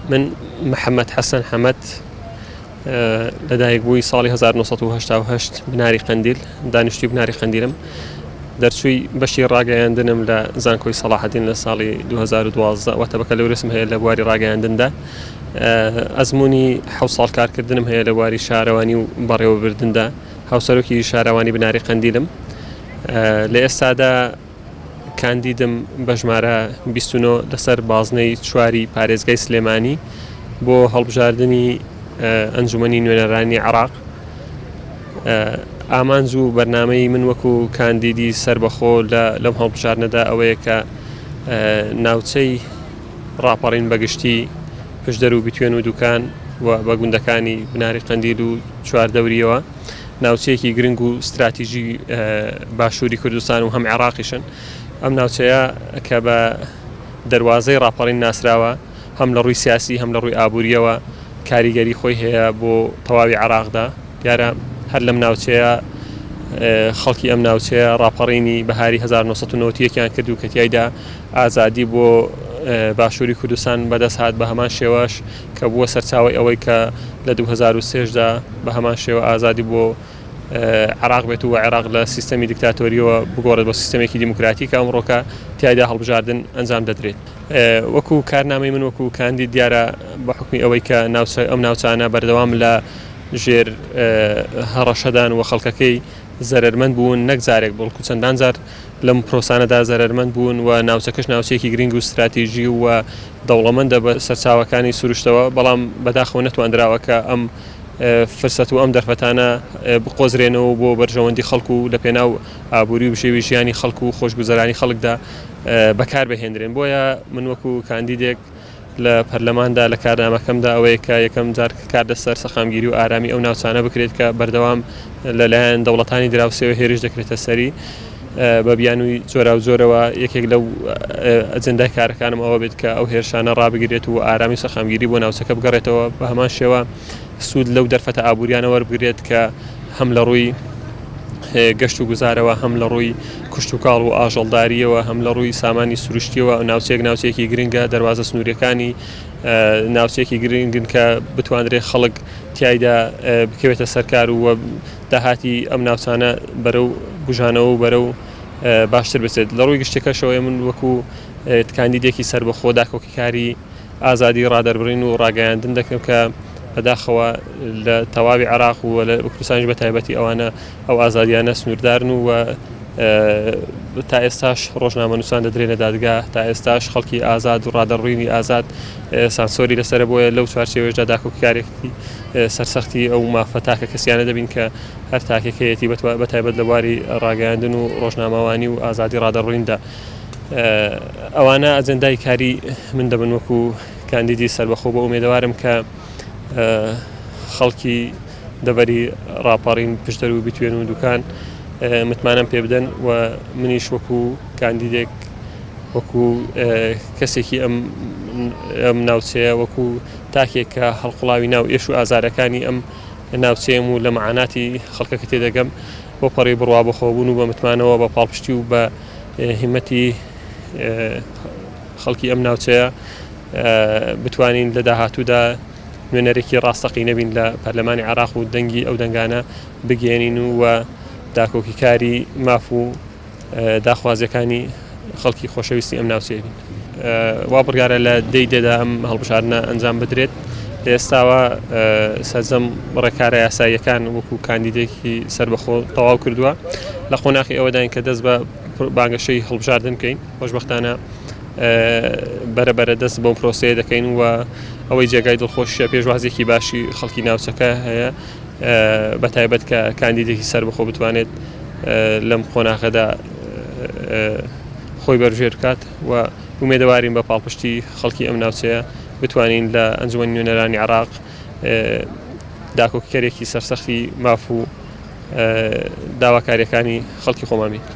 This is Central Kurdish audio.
من محەمەد حەسەن حەمەد لە دایک بووی ساڵی 1970 بناری قندیل دانیشتی بناری قندیلم دەرچووی بەشی ڕاگەیاندنم لە زانکۆی سەڵاحدین لە ساڵی 2012 واتە بەکە لەورسم هەیە لە بواری ڕاگەیاندندا ئەزمموی حو ساڵ کارکردنم هەیە لە بواری شارەوانی و بەڕێوەبردندا هاوسەرۆکی شارەوانی بناری قندیلم لە ئێستادا کاندیدم بە ژمارە بیست و نۆ لەسەر بازنەی چواری پارێزگای سلێمانی بۆ هەڵبژاردنی ئەنجومەنی نوێنەرانی عراق ئامانج و بەرنمەی من وەکو کاندیدی سربەخۆ لە لەم هەڵبژارنەدا ئەوەیە کە ناوچەی ڕاپەڕین بەگشتی پشدەر و بتوێن و دوکان و بە گوندەکانی بناری قندیل و چواردەوریەوە ناوچەیەکی گرنگ و ستراتیژی باشووری کوردستان و هەم عێراقیشن ئەم ناوچەیە کە بە دەواازەی راپەڕین ناسراوە هەم لە ڕووی سیاسی هەم لە ڕووی ئابوووریەوە کاریگەری خۆی هەیە بۆ تەواوی عراقدا دیارە هەر لەم ناوچەیە خەڵکی ئەم ناوچەیە راپەڕینی بەهاری 1990یان کردو کە تایدا ئازادی بۆ باشووری کوردستان بەدەست هاات بە هەمان شێواش کە بووە سەرچاوەی ئەوەی کە لە دوو هەزار و سێ دا بە هەمان شێوە ئازادی بۆ عێراق بێت و عێراق لە سیستەمی دیکتاتۆریەوە بگۆڕێت بۆ سیستەمێکی دیموکراتی کە ئەمڕۆکە تایدا هەڵبژاردن ئەنجام دەدرێت وەکو کارنامەی من وەکو کاندی دیارە بە حکمی ئەوەی کە ناوچە ئەم ناوچانە بەردەوام لە ژێر هەڕەشەدان و خەڵکەکەی زەرمەند بوون نەک جارێک بڵکو چەندان جار لەم پرۆسانەدا زەرمەند بوون و ناوچەکەش ناوچەیەکی گرنگ و استراتیژی و دەوڵەمەندە بە سەرچاوەکانی سروشتەوە، بەڵام بەداخەوە نەتواندراوە کە ئەم فرسەت و ئەم دەرفەتانە بقۆزرێنەوە و بۆ بەرژەوەندی خەڵک و لە پێناو ئابوری و بژێوی ژیانی خەڵک و خۆشگوزەرانی خەڵکدا بەکار بهێندرێن بۆیە من وەکو کاندیدێک لە پەرلەماندا لە کارنامەکەمدا ئەوەیە کە یەکەم جار کار لەسەر سەقامگیری و ئارامی ئەو ناوچانە بکرێت کە بەردەوام لە لایەن دەوڵەتانی دراوسێوە هێرش دەکرێتە سەری. بە بیانووی جۆراوجۆرەوە یەکێک لەو ئەجندای کارەکانم ئەوە بێت کە ئەو هێرشانە ڕابگرێت و ئارامی سەقامگیری بۆ ناوچەکە بگەڕێتەوە بە هەمان شێوە سوود لەو دەرفەتە ئابووریانە وەربگرێت کە هەم لە ڕووی گەشت و گوزارەوە هەم لە ڕووی کوشتتوکاڵ و ئاژەڵداریەوە هەم لە ڕووی سامانی سروشتیەوە ئەو ناوچێک ناوچێکی گرنگە دەواازە سنووریەکانی ناوچێکی گرنگن کە بتواندرێت خەڵک تایدا بکەوێتە سەرکار و داهاتی ئەم ناوچانە بەرەو بوژانەوە و بەرەو باشتر بچێت لە ڕووی گشتەکەشەوەی من وەکو کاندیدێکی سربەخۆ داکۆکیکاری ئازادی ڕادەربڕین و ڕاگەیاندن دەکەم کە بەداخەوە لە تەواوی عراق و لە کوردستانش بە تایبەتی ئەوانە ئەو ئازادیانە سنووردارن و تا ئێستاش ڕۆژنامە نووسان دەدرێنە دادگا تا ئێستاش خەڵکی ئازاد و ڕادەڕووینی ئازاد سانسۆری لەسەرە بۆیە لەو چوارچێوەیەشدا داکۆکیکارێتی سەرسەختی ئەو مافە تاکە کەسیانە دەبین کە هەر تاکێک هەیەتی بەتایبەت لە بواری ڕاگەیاندن و ڕۆژنامەوانی و ئازادی ڕادەڕویندا ئەوانە ئەجندای کاری من دەبن وەکو کاندیدی سربەخۆ بۆ ئومێدەوارم کە خەڵکی دەبەری ڕاپەڕین پشتەر و بتوێن و دوکان متمانەم پێ بدەن و منیش وەکو کاندیدێک وەکو کەسێکی ئەم ئەم ناوچەیە وەکو تاکێک کە هەڵقوڵاوی ناو ئێش و ئازارەکانی ئەم ناوچەیەم و لە مەعاناتی خەڵکەکە تێدەگەم بۆ پەڕی بڕوا بەخۆبوون و بە متمانەوە بە پاڵپشتی و بە هیمەتی خەڵکی ئەم ناوچەیە بتوانین لە داهاتوودا نوێنەرێکی ڕاستەقی نەبین لە پەرلەمانی عراق و دەنگی ئەو دەنگانە بگەێنین و و داکۆکیکاری ماف و داخوازییەکانی خەڵکی خۆشەویستی ئەم ناوچەیە بین. وا بڕیارە لە دەی دێدا ئەم هەڵبژاردنە ئەنجام بدرێت. لە ئێستاوە سەرجەم ڕێکارە یاساییەکان وەکو کاندیدێکی سربەخۆ تەواو کردووە لە قۆناقی ئەوەداین کە دەست بە بانگەشەی هەڵبژاردن بکەین خۆشببختانە بەرە بەرە دەست بۆ پرۆسەیە دەکەین و ئەوەی جێگای دڵخۆشیە پێشوازێکی باشی خەڵکی ناوچەکە هەیە بە تایبەت کە کاندیدێکی سەربەخۆ بتوانێت لەم قۆناغەدا خۆی بەرژێر بکات و ومێدەوارین بە پاڵپشتی خەڵکی ئەم ناوچەیە بتوانین لە ئەنجومەنی نوێنەرانی عراق داکۆکیکەرێکی سەرسەختی ماف و داواکاریەکانی خەڵکی خۆمانین.